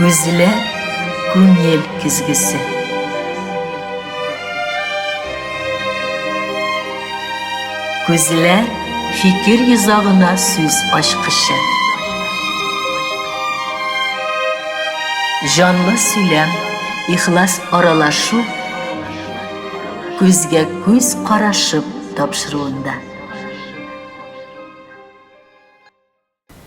Күзләр, күңел көзгесе. Күзләр, фикер йозагына сүз ачкычы. Җанлы сөйләм, ихлас аралашу, күзгә күз карашып тапшыруында.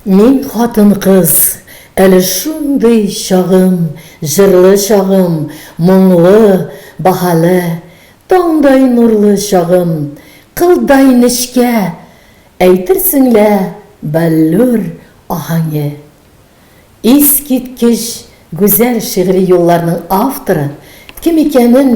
Мин хатын-кыз, әле шундый чагым, җырлы чагым, моңлы, баһале, таңдай нурлы чагым, кылдай нечкә, әйтерсең лә баллюр аһәңе. Искиткеч гүзәл шигъри юлларның авторы кем икәнен,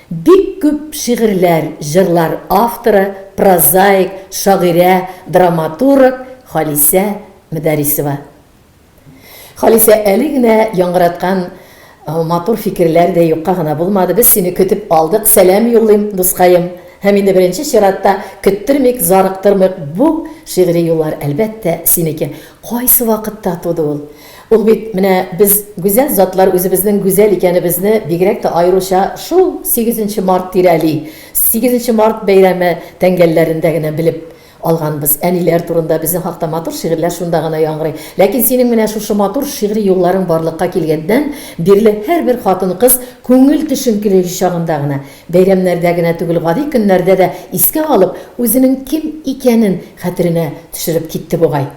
Бик күп шигырьләр, җырлар авторы, прозаик, шагыйрә, драматург Халисә Мөдәрисова. Халисә, әле генә яңгыраткан матур фикерләр дә юкка гына булмады. Без сине көтеп алдык. Сәлам юллыйм, дускаем. Һәм инде беренче чиратта, көттермик, зарыктырмыйк, бу шигъри юллар, әлбәттә, синеке. Кайсы вакытта туды ул? Ул бит менә без гүзәл затлар үзебезнең гүзәл икәнебезне бигрәк тә аеруча шул сигезенче март тирәли. Сигезенче март бәйрәме тәңгәлләрендә генә белеп алганбыз. Әниләр турында безнең хакта матур шигырьләр шунда гына яңгырый. Ләкин синең менә шушы матур шигъри юлларың барлыкка килгәннән бирле һәрбер хатын-кыз күңел төшенкелеге чагында гына, бәйрәмнәрдә генә түгел, гади көннәрдә дә искә алып, үзенең кем икәнен хәтеренә төшереп китте бугай.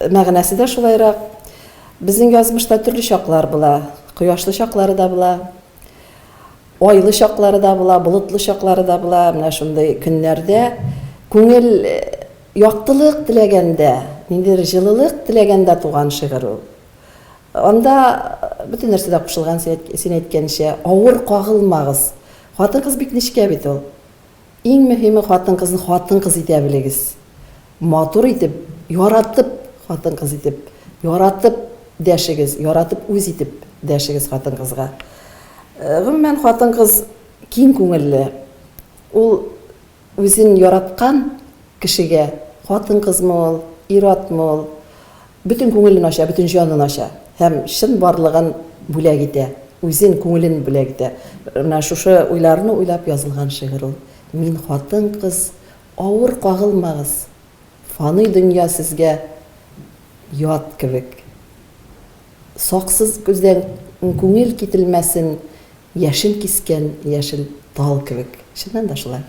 Мәгънәсе дә шулайрак. Безнең язмышта төрле чаклар була. Кояшлы чаклары да була, айлы чаклары да була, болытлы чаклары да була. Менә шундый көннәрдә күңел яктылык теләгәндә, ниндидер җылылык теләгәндә туган шигырь ул. Анда бөтен нәрсә дә кушылган, син әйткәнчә, авыр кагылмагыз. Хатын-кыз бик нечкә бит ул. Иң мөһиме хатын-кызны хатын-кыз итә белегез. Матур итеп, яратып хатын-кыз итеп, яратып дәшегез, яратып үз итеп дәшегез хатын-кызга. Гомумән хатын-кыз киң күңелле. Ул үзен яраткан кешегә, хатын-кызмы ул, ир-атмы ул, Бөтен күңелен ача, бөтен җанын ача һәм чын барлыгын бүләк итә, үзен, күңелен бүләк итә. Менә шушы уйларны уйлап язылган шигырь ул. Мин хатын-кыз, авыр кагылмагыз, Фаный дөнья сезгә ят кебек. Саксыз күздән күңел кителмәсен. Яшен кискән яшел тал кебек. Чыннан да шулай.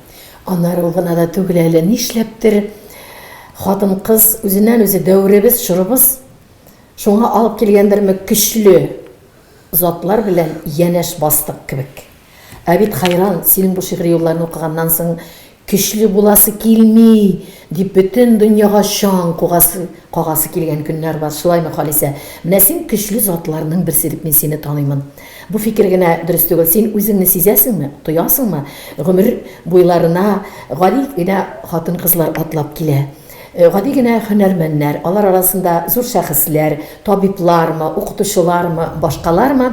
Аннары ул гына да түгел әле, нишләптер, хатын-кыз үзеннән-үзе дәверебез, чорыбыз шуңа алып килгәндерме, көчле затлар белән янәш бастык кебек. Ә бит хайран, синең бу шигъри юлларны укыганнан соң, Көчле буласы килми! дип бөтен дөньяга чаң кугасы, кагасы килгән көннәр бар, шулаймы, Халисә? Менә син көчле затларның берсе дип мин сине таныймын. Бу фикер генә дөрес түгел. Син үзеңне сизәсеңме, тоясыңмы? Гомер буйларына гади генә хатын-кызлар атлап килә. Гади генә һөнәрмәннәр, алар арасында зур шәхесләр, табиблармы, укытучылармы, башкалармы?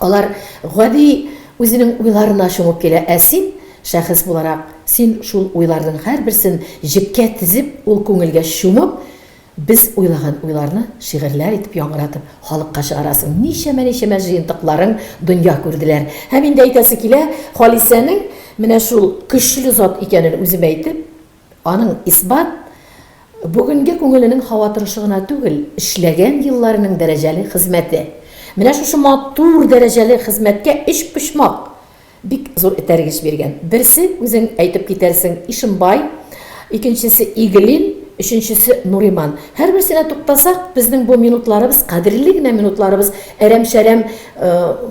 Алар гади үзенең уйларына чумып килә, ә син, шәхес буларак, син шул уйларның һәрберсен җепкә тезеп, ул күңелгә чумып, без уйлаган уйларны шигырьләр итеп яңгыратып, халыкка чыгарасың. Ничәмә-ничәмә җыентыкларың дөнья күрделәр. Һәм инде әйтәсе килә, Халисәнең менә шул көчле зат икәнен үзем әйтеп, Аның Исбат бүгенге күңеленең һава торышы гына түгел, эшләгән елларының дәрәҗәле хезмәте. Менә шушы матур дәрәҗәле хезмәткә өчпочмак бик зур этәргеч биргән. Берсе, үзең әйтеп китәрсең, Ишембай, икенчесе, Иглин, өченчесе, Нуриман. Һәрберсенә туктасак, безнең бу минутларыбыз, кадерле генә минутларыбыз әрәм-шәрәм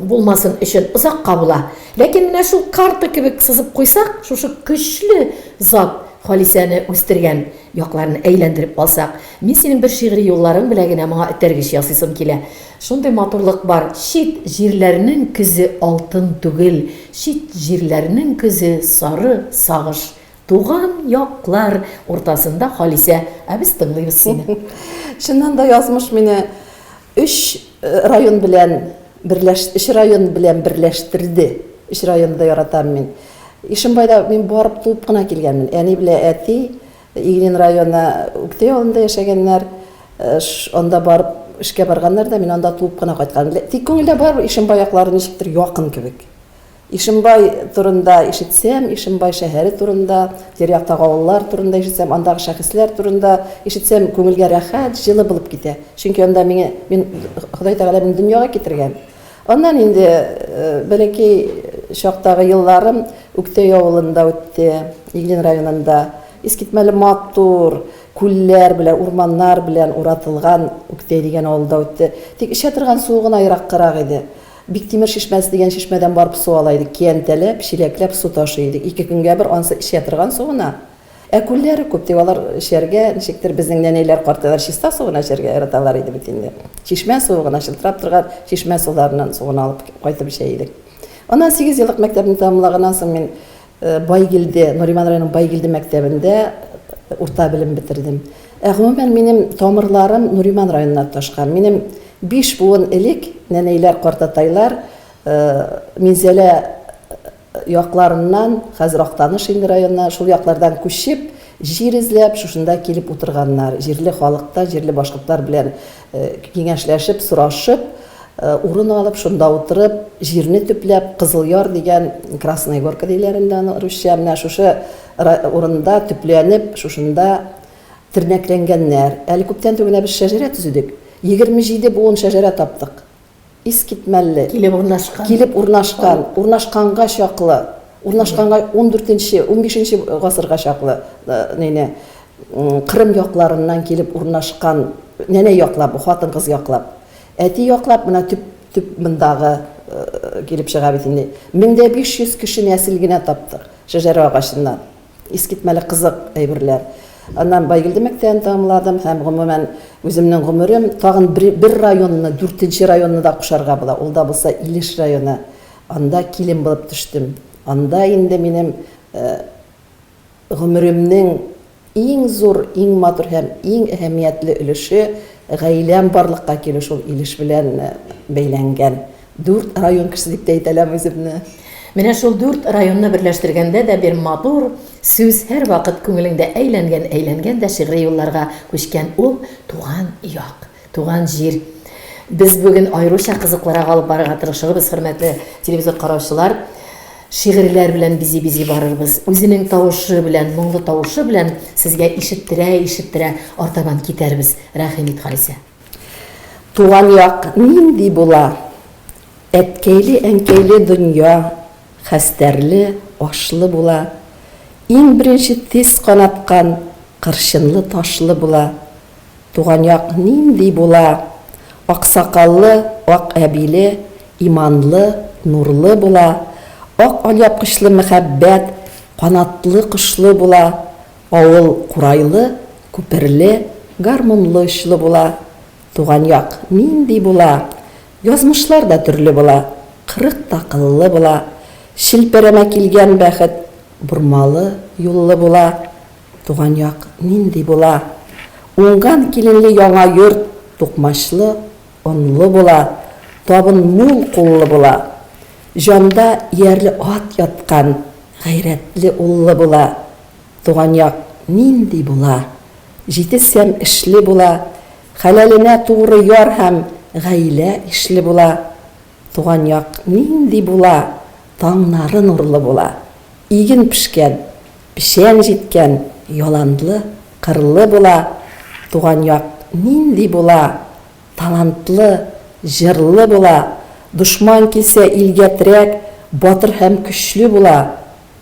булмасын өчен озакка була. Ләкин менә шул карта кебек сызып куйсак, шушы көчле Зат, Халисәне үстергән якларны әйләндереп алсак, мин синең бер шигъри юлларың белән генә моңа этәргеч ясыйсым килә. Шундый матурлык бар, Чит җирләрнең көзе алтын түгел, Чит җирләрнең көзе сары, сагыш. Туган яклар уртасында Халисә, ә без тыңлыйбыз сине. Чыннан да язмыш мине өч район белән берләш өч район белән берләштерде. Өч районны да яратам мин. Ишембайда мин барып туып кына килгәнмен. Әни белән әти Иглин районы Үктәй авылында яшәгәннәр. Анда барып эшкә барганнар да, мин анда туып кына кайткан. Тик күңелдә барыбер Ишембай яклары ничектер якын кебек. Ишембай турында ишетсәм, Ишембай шәһәре турында, тирә-яктагы авыллар турында ишетсәм, андагы шәхесләр турында ишетсәм, күңелгә рәхәт, җылы булып китә. Чөнки анда миңа, мин, Ходай Тәгалә мине дөньяга китергән. Аннан инде бәләкәй чактагы елларым Үктәй авылында үтте, Иглин районында. Искитмәле матур күлләр белән, урманнар белән уратылган Үктәй дигән авылда үтте. Тик эчә торган суы гына ераккарак иде. Биктимер чишмәсе дигән чишмәдән барып су ала идек, киянтәләп, чиләкләп су ташый идек. Ике көнгә бер ансы эчә торган су гына. Ә күлләре күп, тик алар эчәргә, ничектер, безнең нәнәйләр, картайлар чиста су гына эчәргә яраталар иде бит инде. Чишмә суы гына, чылтырап торган чишмә суларыннан су гына алып кайтып эчә идек. Аннан сигез еллык мәктәпне тәмамлаганнан соң мин Байгилде, Нуриман районының Байгилде мәктәбендә урта белем бетердем. Ә гомумән минем тамырларым Нуриман районына тоташкан. Минем биш буын элек нәнәйләр, картатайлар Минзәлә якларыннан, хәзер Актаныш инде районы, шул яклардан күчеп, җир эзләп, шушында килеп утырганнар. Җирле халык та, җирле башкортлар белән киңәшләшеп, сорашып, урын алып, шунда утырып, җирне төпләп, Кызыл Яр дигән, Красная Горка диләр инде аны русча, менә шушы урында төпләнеп, шушында тернәкләнгәннәр. Әле күптән түгел генә без шәҗәрә төзедек. Егерме җиде буын шәҗәрә таптык. Искитмәлле. Килеп урнашкан. Килеп урнашкан, урнашканга чаклы, урнашканга ундүртенче, унбишенче гасырга чаклы нәнә Кырым якларыннан килеп урнашкан нәнә яклап бу, хатын-кыз яклап. Әти яклап менә төп төп мондагы килеп чыга бит инде. Мең дә биш йөз кеше нәсел генә таптык шәҗәрә агачыннан. Искитмәле кызык әйберләр. Аннан Байгелде мәктәбен тәмамладым һәм, гомумән, үземнең гомерем тагын бер районны, дүртенче районны да кушарга була, ул да булса Илеш районы. Анда килен булып төштем. Анда инде минем гомеремнең иң зур, иң матур һәм иң әһәмиятле өлеше, гаиләм барлыкка килү шул Илеш белән бәйләнгән. Дүрт район кеше дип тә әйтәләм үземне. Менә шул дүрт районны берләштергәндә дә бер матур сүз һәрвакыт күңелеңдә әйләнгән-әйләнгән дә шигъри юлларга күчкән, ул, туган як, туган җир. Без бүген аеруча кызыклырак алып барырга тырышырбыз, хөрмәтле телевизор караучылар. Шигырьләр белән бизи-бизи барырбыз. Үзенең тавышы белән, моңлы тавышы белән сезгә ишеттерә-ишеттерә артабан китәрбез. Рәхим ит, Халисә. Туган як нинди була? Әткәйле-әнкәйле дөнья, хәстәрле, ашлы була. Иң беренче тез канаткан, кырчынлы-ташлы була. Туган як нинди була? Аксакаллы, ак әбиле, иманлы, нурлы була. Ак алъяпкычлы мәхәббәт, канатлы-кошлы була. Авыл курайлы, күперле, гармунлы очлы була. Туган як нинди була? Язмышлар да төрле була. Кырык та кыллы була. Челпәрәмә килгән бәхет Бормалы юллы була. Туган як нинди була? Уңган киленле яңа йорт тукмачлы, онлы була. Табын мул куллы була. Җанда иярле ат яткан, гайрәтле уллы була. Туган як нинди була? Җитез һәм эшле була, хәләленә тугры яр һәм гаилә ишле була. Туган як нинди була? Таңнары нурлы була, иген пешкән, печән җиткән, яланлы, кырлы була. Туган як нинди була? Талантлы, җырлы була, дошман килсә илгә терәк, батыр һәм көчле була.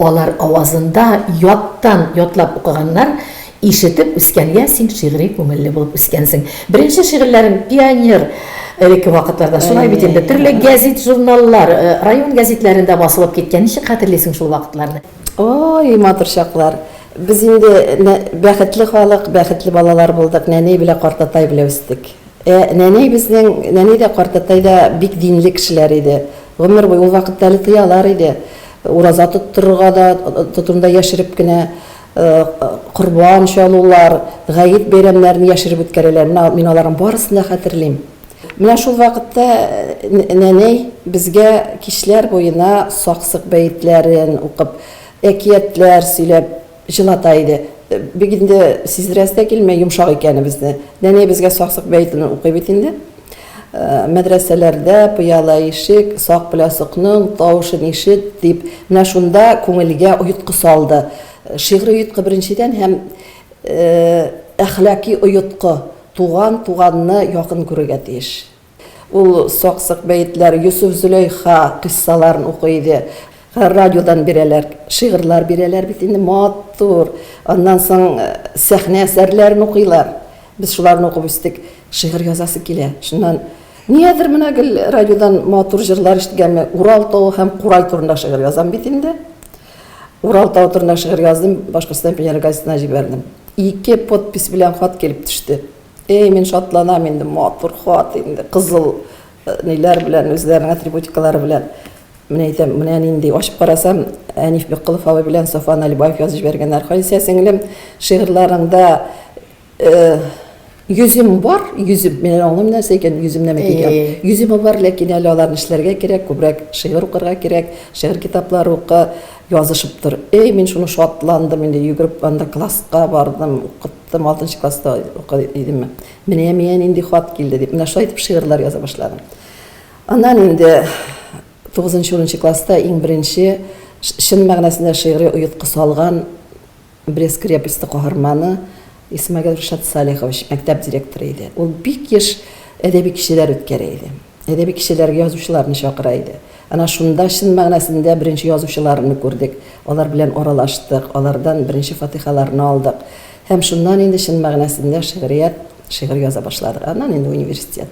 Алар авазында яттан ятлап укыганнар, ишетеп үскәнгә син шигъри күңелле булып үскәнсең. Беренче шигырьләрең пионер элекке вакытларда, шулай бит инде, төрле гәзит-журналлар, район гәзитләрендә басылып киткән. Ничек хәтерлисең шул вакытларны? Ой, матур чаклар. Без инде бәхетле халык, бәхетле балалар булдык, нәни белә картатай белә үстек. Ә нәнәй безнең, нәнәй дә, картатай да бик динле кешеләр иде. Гомер буе, ул вакытта әле тыялар иде, ураза тоттырырга да тотынды да яшереп кенә, корбан чалулар, гает бәйрәмнәрен яшереп үткәрәләр. Менә мин аларның барысын да хәтерлим. Менә шул вакытта нәнәй безгә кичләр буена саксык бәетләрен укып, әкиятләр сөйләп, Җылата иде. Бик инде сиздерәсе дә килми йомшак икәнебезне. Нәни безгә Саксык бәетен укый бит инде. Мәдрәсәләрдә пыяла ишек, сак белән сокның тавышын ишет, дип, менә шунда күңелгә оеткы салды. Шигъри оеткы беренчедән һәм әхлаки оеткы, туган, туганны якын күрергә тиеш. Ул сак-сык бәетләр, Йосыф-Зөләйха кыйссаларын укый иде. Радиодан бирәләр, шигырьләр бирәләр бит инде, матур. Аннан соң сәхнә әсәрләрен укыйлар. Без шуларны укып үстек. Шигырь язасы килә. Шуннан, нигәдер менә гел радиодан матур җырлар ишеткәнме, Урал тавы һәм курай турында шигырь язам бит инде. Урал тавы турында шигырь яздым, Башкортстан пионеры газетына җибәрдем. Ике подпись белән хат килеп төште. Әй, мин шатланам инде, матур хат инде, кызыл э, ниләр белән, үзләренең атрибутикалары белән. Менә әйтәм, менә нинди, ачып карасам, Әниф Беккылов абый белән Софа Налибаев язып җибәргәннәр. Халисә сеңлем, шигырьләреңдә э, йөзем бар, йөзем, мин аңлыйм нәрсә икән, йөзем нәмә дигән. Йөзем бар, ләкин әле аларны эшләргә кирәк, күбрәк шигырь укырга кирәк, шигырь китаплары укы, язышып тор. Әй, мин шуны шатландым инде, йөгереп анда класска бардым, укып Тым алтынчы класста укый идем. Менә миңа нинди хат килде, дип, менә шулай итеп шигырьләр яза башладым. Аннан инде тугызынчы, унынчы класста иң беренче чын мәгънәсендә шигъри оеткы салган Брест крепосте каһарманы Исмәгыйль Ришат Салихович, мәктәп директоры иде. Ул бик еш әдәби кичәләр үткәрә иде. Әдәби кичәләргә язучыларны чакыра иде. Әнә шунда чын мәгънәсендә беренче язучыларны күрдек, алар белән аралаштык, алардан беренче фатихаларны алдык. Һәм шуннан инде чын мәгънәсендә шигърият, шигырь яза башладык. Аннан инде университет.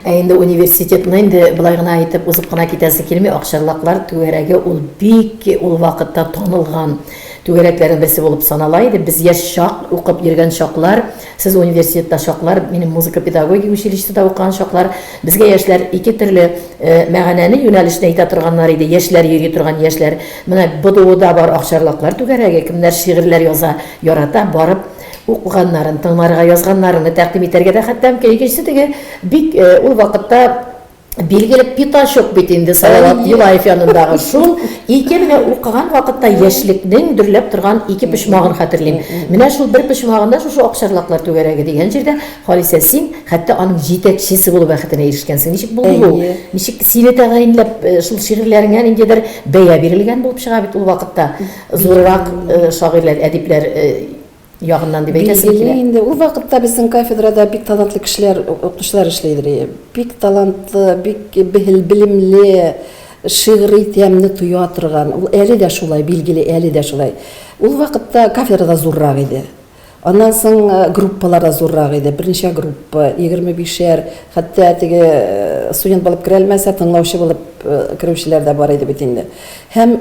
Ә инде университетны инде болай гына әйтеп узып кына китәсе килми, Акчарлаклар түгәрәге ул бик ул вакытта танылган түгәрәкләрнең берсе булып санала иде. Без яшь чак, укып йөргән чаклар, Сез университетта чаклар, минем музыка педагогик училищеда укыган чаклар, безгә яшьләр ике төрле мәгънәне, юнәлешне әйтә торганнар иде, яшьләр йөри торган яшьләр. Менә БДУда бар акчарлаклар түгәрәге, кемнәр шигырьләр яза, ярата, барып укыганнарын, тыңларга язганнарыны тәкъдим итәргә дә хәтта мөмкин. Икенчесе теге бик ул вакытта Билгеле пятачок бит инде Салават Юлаев янындагы шул. Ике менә укыган вакытта яшьлекнең дөрләп торган ике почмагын хәтерлим. Менә шул бер почмагында шушы Акчарлаклар түгәрәге дигән җирдә, Халисә, син хәтта аның җитәкчесе булу бәхетенә ирешкәнсең. Ничек булды бу? Ничек сине тәгаенләп э, шул шигырьләреңә ниндидер бәя бирелгән булып чыга бит ул вакытта. Зуррак э, шагыйрьләр, әдипләр э, ягыннан дип әйтәсем килә. Билгеле инде, ул вакытта безнең кафедрада бик талантлы кешеләр, укытучылар эшли иде. Бик талантлы, бик белемле, шигъри тәмне тоя торган, ул әле дә шулай, билгеле, әле дә шулай. Ул вакытта кафедра да зуррак иде. Аннан соң э, группалар да зуррак иде. Берничә группа, 25-шәр, хәтта теге э, студент булып керә алмаса, тыңлаучы булып э, керүчеләр дә бар иде бит инде. Һәм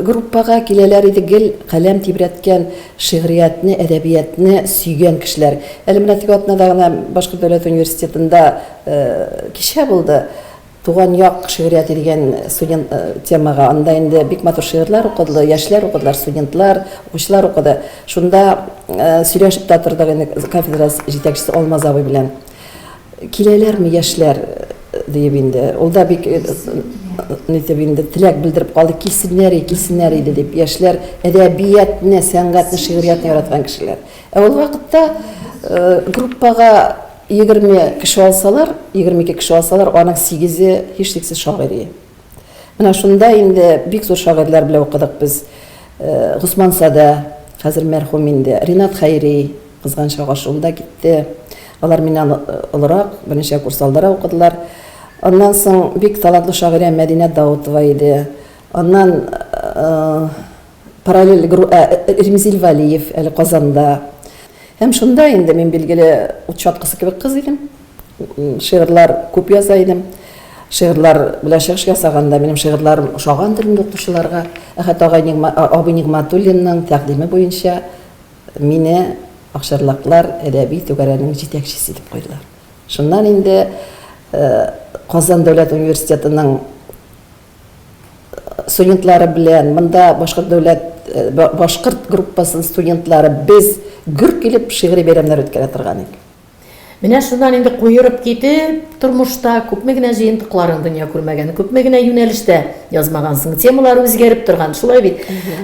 Группага киләләр иде гел каләм тибрәткән, шигъриятне, әдәбиятне сөйгән кешеләр. Әле менә теге атнада гына Башкорт дәүләт университетында кичә булды, Туган як шигърияте дигән студент темага. Анда инде бик матур шигырьләр укыды, яшьләр укыдылар, студентлар, укучылар укыды. Шунда сөйләшеп тә тордык инде кафедра җитәкчесе Алмаз абый белән. Киләләрме яшьләр диеп инде. Ул да бик нитеп инде теләк белдереп калды, килсеннәр, и, килсеннәр иде дип. Яшьләр әдәбиятны, сәнгатьне, шигъриятне яраткан кешеләр. Ә ул вакытта группага 20 кеше алсалар, 22 кеше алсалар, аның 8-е һичшиксез шагыйрь. Менә шунда инде бик зур шагыйрьләр белән укыдык без. Госман Садә, хәзер мәрхүм инде, Ринат Хәйри, кызганыч чак ашуында китте. Алар миннән олырак, берничә курс алдарак укыдылар. Аннан соң бик талантлы шагыйрә Мәдинә Даутова иде. Аннан Параллель гру ә Ремзил Вәлиев әле Казанда. Һәм шунда инде мин, билгеле, ут чаткысы кебек кыз идем. Шигырьләр күп яза идем. Шигырьләр белән чыгыш ясаганда минем шигырьләрем ошагандыр инде укучыларга. Әхәт агай Нигма, абый Нигматуллинның тәкъдиме буенча мине Акчарлаклар әдәби түгәрәгенең җитәкчесе итеп куйдылар. Шуннан инде Казан дәүләт университетының студентлары белән монда башкорт дәүләт башкорт группасының студентлары без гөр килеп шигъри бәйрәмнәр үткәрә торган идек. Менә шуннан инде куерып китеп, тормышта күпме генә җыентыкларың дөнья күрмәгән, күпме генә юнәлештә язмагансың, темалар үзгәреп торган, шулай бит.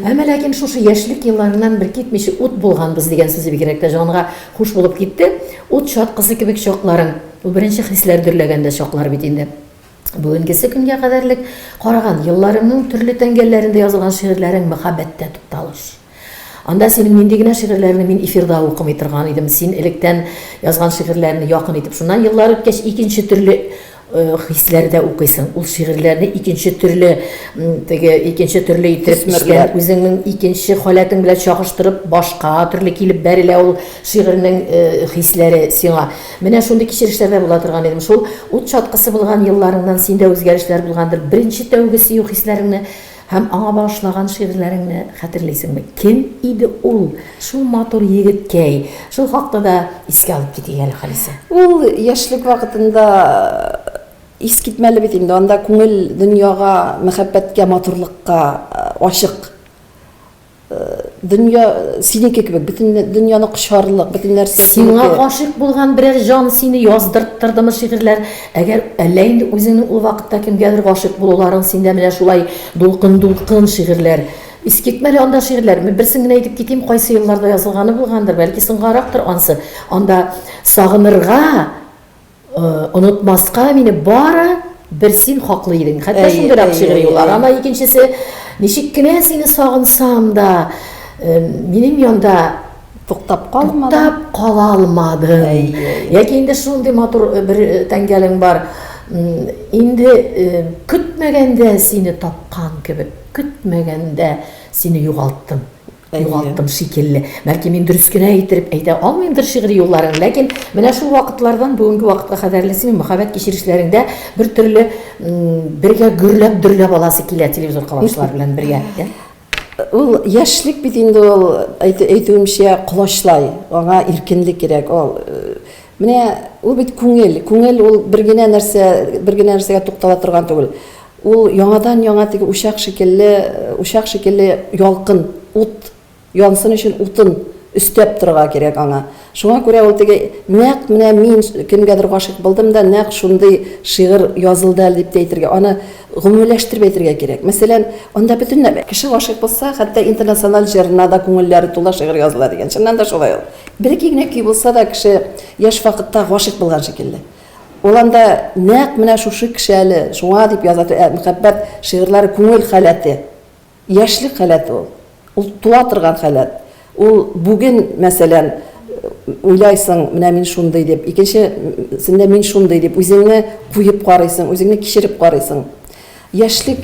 Әмма ләкин шушы яшьлек елларыннан бер китмичә ут булганбыз дигән сүзе бигрәк тә җанга хуш булып китте. Ут чаткысы кебек чакларың, ул беренче хисләр дөрләгәндә чаклар бит инде. Бүгенгесе көнгә кадәрлек караган елларыңның төрле тәңгәлләрендә язылган шигырьләрең мәхәббәттә тукталыш. Анда синең нинди генә шигырьләрне мин эфирда укымый торган идем, син электән язган шигырьләрне якын итеп, шуннан еллар үткәч икенче төрле хисләрдә укыйсың. Ул шигырьләрне икенче төрле теге икенче төрле итеп эчкән үзеңнең икенче халәтең белән чагыштырып башка төрле килеп бәрелә ул шигырьнең хисләре сиңа. Менә шундый кичерешләрдә була торган идем. Шул ут чаткысы булган елларыңнан синдә үзгәрешләр булгандыр. Беренче тәүге сөю хисләреңне һәм аңа багышлаган шигырьләреңне хәтерлисеңме? Кем иде ул, шул матур егеткәй? Шул хакта да искә алып китик әле, Халисә. Ул яшьлек вакытында искитмәле бит инде. Анда күңел дөньяга, мәхәббәткә, матурлыкка ачык. Дөнья синеке кебек, бөтен дөньяны кочарлык, бөтен нәрсә синеке. Сиңа гашыйк булган берәр җан сине яздырттырдымы шигырьләр? Әгәр әллә инде үзеңнең ул вакытта кемгәдер гашыйк булуларың синдә менә шулай дулкын-дулкын шигырьләр. Искитмә әле анда шигырьләр. Мин берсен генә әйтеп китим, кайсы елларда язылганы булгандыр, бәлки соңгарактыр ансы. Анда сагынырга, Онытмаска мине бары бер син хаклы идең. Хәтта шундыйрак шигъри юл. Ана икенчесе ничек кенә сине сагынсам да, минем янда туктап калмадың. Туктап кала алмадың. Яки инде шундый матур бер тәңгәлең бар. Инде көтмәгәндә сине тапкан кебек, көтмәгәндә сине югалттым. Югалттым шикелле. Бәлки мин дөрес кенә иттереп әйтә алмыймдыр шигъри юлларын, ләкин менә шул вакытлардан бүгенге вакытка кадәрле синең мәхәббәт кичерешләреңдә бер төрле бергә гөрләп, дөрләп аласы килә телевизор колачлар белән бергә. Ул яшьлек бит инде ул, әйтүемчә, колачлай. Аңа иркенлек кирәк. Ул Менә ул бит күңел, күңел ул бер генә нәрсә, бер генә нәрсәгә туктала торган түгел. Ул яңадан-яңа теге учак шикелле, учак шикелле ялкын, ут, янсын өчен утын өстәп торырга кирәк аңа. Шуңа күрә ул теге нәкъ менә мин кемгәдер гашыйк булдым да, нәкъ шундый шигырь язылды әле дип тә әйтергә, аны Гомумиләштереп әйтергә кирәк. Мәсәлән, анда бөтенләй кеше гашыйк булса, хәтта интернациональ җырына да күңелләре тула шигырь языла дигән. Чыннан да шулай ул. Бер-ике генә көй булса да, кеше яшь вакытта гашыйк булган шикелле. Ул анда нәкъ менә шушы кеше әле, шуңа дип яза, мәхәббәт шигырьләре күңел халәте. Яшьлек халәт ул. Ул туа торган халәт. Ул бүген, мәсәлән, уйлайсың, менә мин шундый дип, икенче сендә мин шундый дип, үзеңне куеп карыйсың, үзеңне кичереп карыйсың. Яшьлек,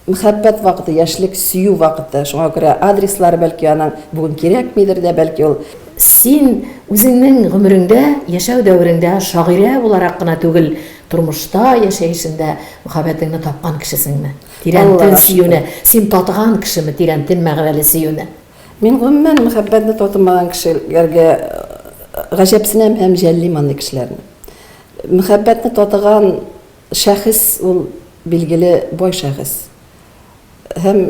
мәхәббәт вакыты, яшьлек, сөю вакыты. Шуңа күрә адреслары, бәлки, аның бүген кирәкмидер дә, бәлки, ул. Син үзеңнең гомереңдә, яшәү дәвереңдә шагыйрә буларак кына түгел, тормышта, яшәешендә мәхәббәтеңне тапкан кешесеңме? Тирәнтен сөюне син татыган кешеме, тирәнтен мәгънәле сөюне? Мин гомумән мәхәббәтне татымаган кешеләргә гаҗәпсенәм һәм җәллим андый кешеләрне. Мәхәббәтне татыган шәхес ул билгеле бай шәхес. Һәм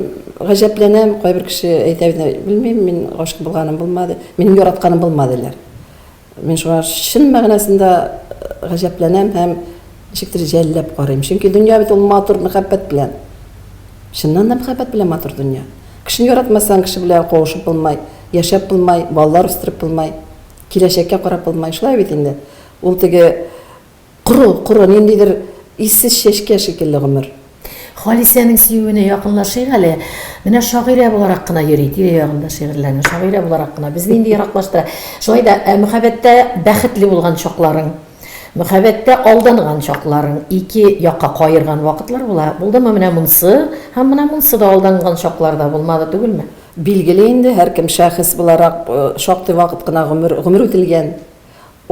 гаҗәпләнәм, кайбер кеше әйтә бит, белмим, мин гашыйк булганым булмады, минем яратканым булмады диләр. Мин шуңа чын мәгънәсендә гаҗәпләнәм һәм ничектер җәлләп карыйм. Чөнки дөнья бит ул матур мәхәббәт белән. Чыннан да мәхәббәт белән матур дөнья. Кешене яратмасаң, кеше белән кавышып булмай, яшәп булмай, балалар үстереп булмай, киләчәккә карап булмай. Шулай бит инде. Ул теге Коры, коры, ниндидер иссез чәчкә шикелле гомер. Халисәнең сөюенә якынлашыйк әле. Менә шагыйрә буларак кына йөри, тирә-ягында шигырьләнү, шагыйрә буларак кына. Безне инде ераклаштыра. Шулай да, ә мөхәббәттә бәхетле булган чакларың, мөхәббәттә алданган чакларың, ике якка каерган вакытлар була. Булдымы менә монсы? Һәм менә монсы да алданган чаклар да булмады түгелме? Билгеле инде, һәркем шәхес буларак шактый вакыт кына гомер, гомер үтелгән.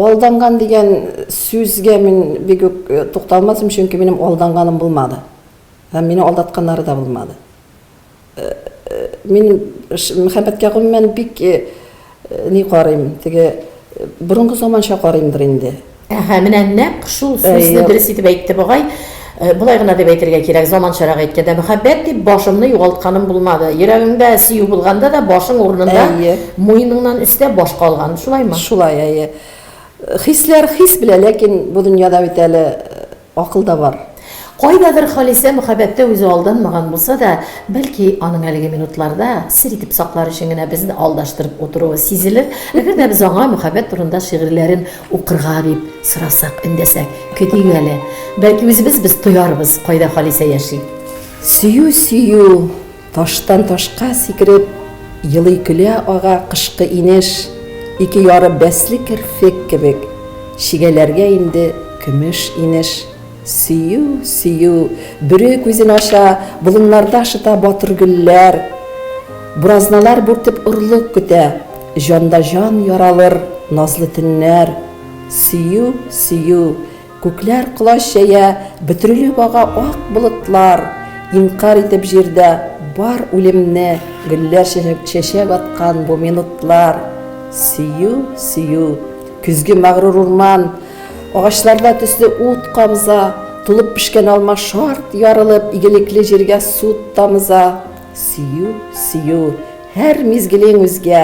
Алданган дигән сүзгә мин бик үк тукталмасым, чөнки минем алданганым булмады. Һәм мине алдатканнары да булмады. Мин мәхәббәткә гомумән бик ни карыйм, теге борынгы заманча карыймдыр инде. Әһә, менә нәкъ шул сүзне дөрес итеп әйтте бугай. Болай гына дип әйтергә кирәк, заманчарак әйткәндә, мәхәббәт дип башымны югалтканым булмады. Йөрәгеңдә сөю булганда да, башың урынында, Әйе. муеныңнан өстә баш калган. Шулаймы? Шулай, әйе. Хисләр хис белә, ләкин бу дөньяда бит әле акыл да бар. Кайдадыр Халисә мәхәббәттә үзе алданмаган булса да, бәлки, аның әлеге минутларда сер итеп саклар өчен генә безне алдаштырып утыруы сизелер, әгәр дә без аңа мәхәббәт турында шигырьләрен Укырга дип сорасак, эндәсәк, көтик әле. Бәлки үзебез без тоярбыз, кайда Халисә яши. Сөю, сөю, таштан ташка сикереп, елый көлә ага кышкы инеш, ике яры бәсле керфек кебек, чигәләргә инде көмеш инеш. Сөю, сөю, Бүре күзен ача, Болыннарда шыта батыр гөлләр. Буразналар бүртеп орлык көтә, Җанда җан яралыр назлы төннәр. Сөю, сөю, Күкләр колач җәя, Бөтерелеп ага ак болытлар. Инкарь итеп җирдә бар үлемне, Гөлләр чәчәк аткан бу минутлар. Сөю, сөю, Көзге мәгърур урман, Агачларда төсле ут камза, Тулып пешкән алма шарт ярылып, Игелекле җиргә сут тамыза. Сөю, сөю, һәр мизгелең үзгә,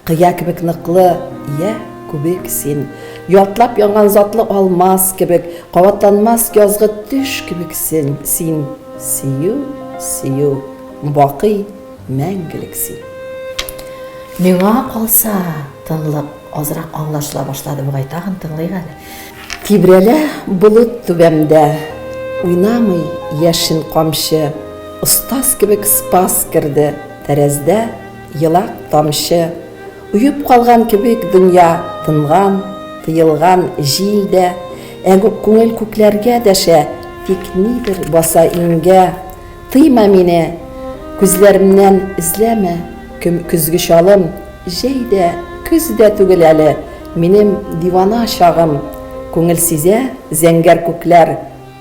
Кыя кебек ныклы, йә, күбек син. Ялтлап янган затлы алмаз кебек, Кабатланмас язгы төш кебексен син. Сөю, сөю, бакый мәңгелек син. Миңа калса, тынлык. Азрак аңлашыла башлады бугай, тагын тыңлыйк әле. Тибрәлә болыт түбәмдә, уйнамый яшен камчы, Остаз кебек спас керде тәрәздә елак тамчы. Уеп калган кебек дөнья тынган, тыелган җил дә, Ә күңел күкләргә дәшә, тик нидер баса иңгә. Тыйма мине, күзләремнән эзләмә көзге чалым. Җәй дә, көз дә түгел әле, Минем дивана чагым. Күңел сизә, зәңгәр күкләр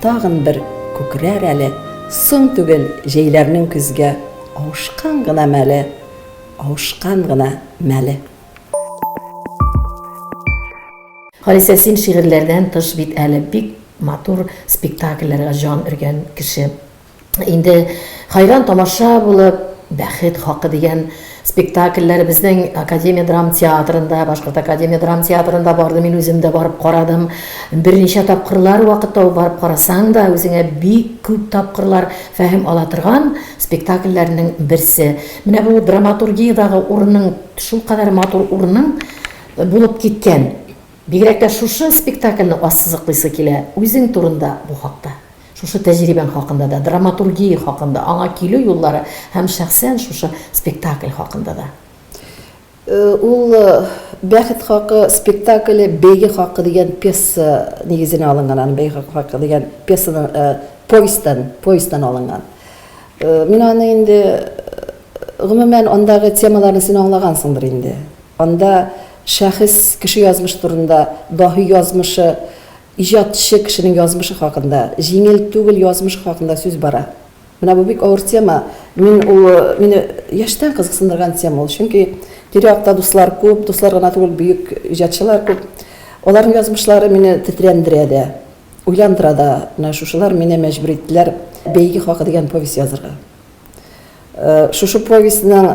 Тагын бер күкрәр әле. Соң түгел җәйләрнең көзгә Авышкан гына мәле, Авышкан гына мәле. Халисә, син шигырьләрдән тыш бит әле бик матур спектакльләргә җан өргән кеше. Инде хәйран тамаша булып, Бәхет хакы дигән спектакльләр безнең Академия драм театрында, Башкорт Академия драм театрында барды, мин үзем дә барып карадым. Берничә тапкырлар вакыт табып барып карасаң да, үзеңә бик күп тапкырлар фәһем ала торган спектакльләрнең берсе. Менә бу драматургиядагы урының шулкадәр матур урының булып киткән. Бигрәк тә шушы спектакльне ассызыклыйсы килә үзең турында бу хакта. Шушы тәҗрибәң хакында да, драматургия хакында, аңа килү юллары һәм шәхсән шушы спектакль хакында да. Ул Бәхет хакы спектакле Бәйге хакы дигән пьеса нигезенә алынган, аны Бәйге хакы дигән пьесадан, повестьтан, повестьтан алынган. Мин аны инде, гомумән, андагы темаларны син аңлагансыңдыр инде. Анда шәхес, кеше язмыш турында, даһи язмышы, Иҗатчы кешенең язмышы хакында, җиңел түгел язмыш хакында сүз бара. Менә бу бик авыр тема. Мин ул мине яшьтән кызыксындырган тема ул. Чөнки тирә-якта дуслар күп, дуслар гына түгел, бөек иҗатчылар күп. Аларның язмышлары мине тетрәндерә дә, уйландыра да. Менә шушылар мине мәҗбүр иттеләр Бәйге хакы дигән повесть язырга. Шушы повестьның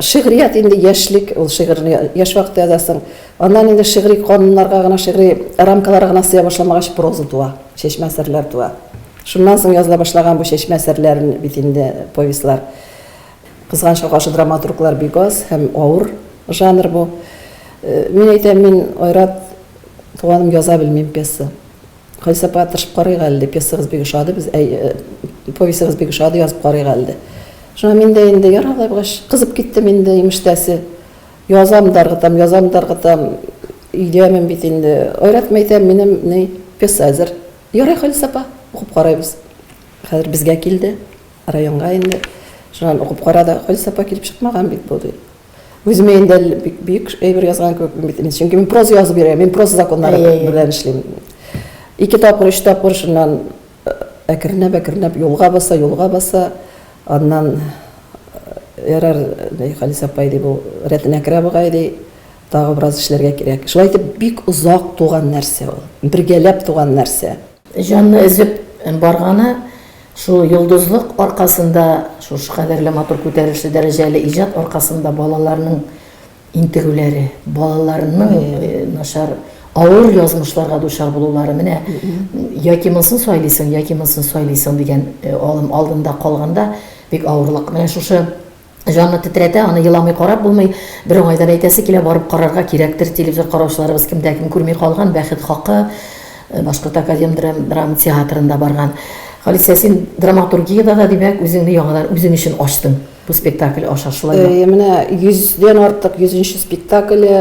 Шигърият инде яшьлек, ул шигырьне яшь вакытта язасың. Аннан инде шигъри кануннарга гына, шигъри рамкаларга гына сыя башламагач, проза туа, чәчмә әсәрләр туа. Шуннан соң языла башлаган бу чәчмә әсәрләр бит инде, повестьлар. Кызганычка каршы, драматурглар бик аз һәм авыр жанр бу. Мин әйтәм, мин, Айрат туганым, яза белмим пьеса. Гөлсапа, тырышып карыйк әле, дип, пьесагыз бик ошады без, әй, повестегыз бик ошады, язып карыйк әле, ди. Шуңа мин дә инде, ярар алай булгач, кызып киттем инде, имештәсе. Язам да ыргытам, язам да ыргытам, өйдәмен бит инде. Айратма әйтәм, минем, ни, пьеса әзер. Ярый, Халис апа, укып карыйбыз. Хәзер безгә килде, районга инде. Шуннан укып карады, Халис апа, килеп чыкмаган бит бу, ди. Үземә инде бик бик әйбер язган кебек бит инде, чөнки мин проза язып йөрәм, мин проза законнары белән эшлим. Ике тапкыр, өч тапкыр шуннан әкренләп, әкренләп юлга баса, юлга баса, аннан ярар, Халис апай ди, бу рәтенә керә бугай ди, тагы бераз эшләргә кирәк. Шулай итеп бик озак туган нәрсә ул, бергәләп туган нәрсә. Җанны өзеп барганы шул йолдызлык аркасында, шушы кадәрле матур күтәрелешле дәрәҗәле иҗат аркасында балаларның интегүләре, балаларның начар, авыр язмышларга дучар булулары менә яки монысын сайлыйсың, яки монысын сайлыйсың дигән алым алдында калганда бик авырлык. Менә шушы Җанны тетрәтә, аны еламый карап булмый. Бер уңайдан әйтәсе килә, барып карарга кирәктер, телевизор караучыларыбыз кемдә кем күрми калган, бәхет хакы, Башкорт академ драма театрында барган. Халисә, син драматургиядә дә, димәк, үзеңне яңадан үзең өчен ачтың бу спектакль аша, шулай да? Әйе, менә 100 дән артык, 100 нче спектакле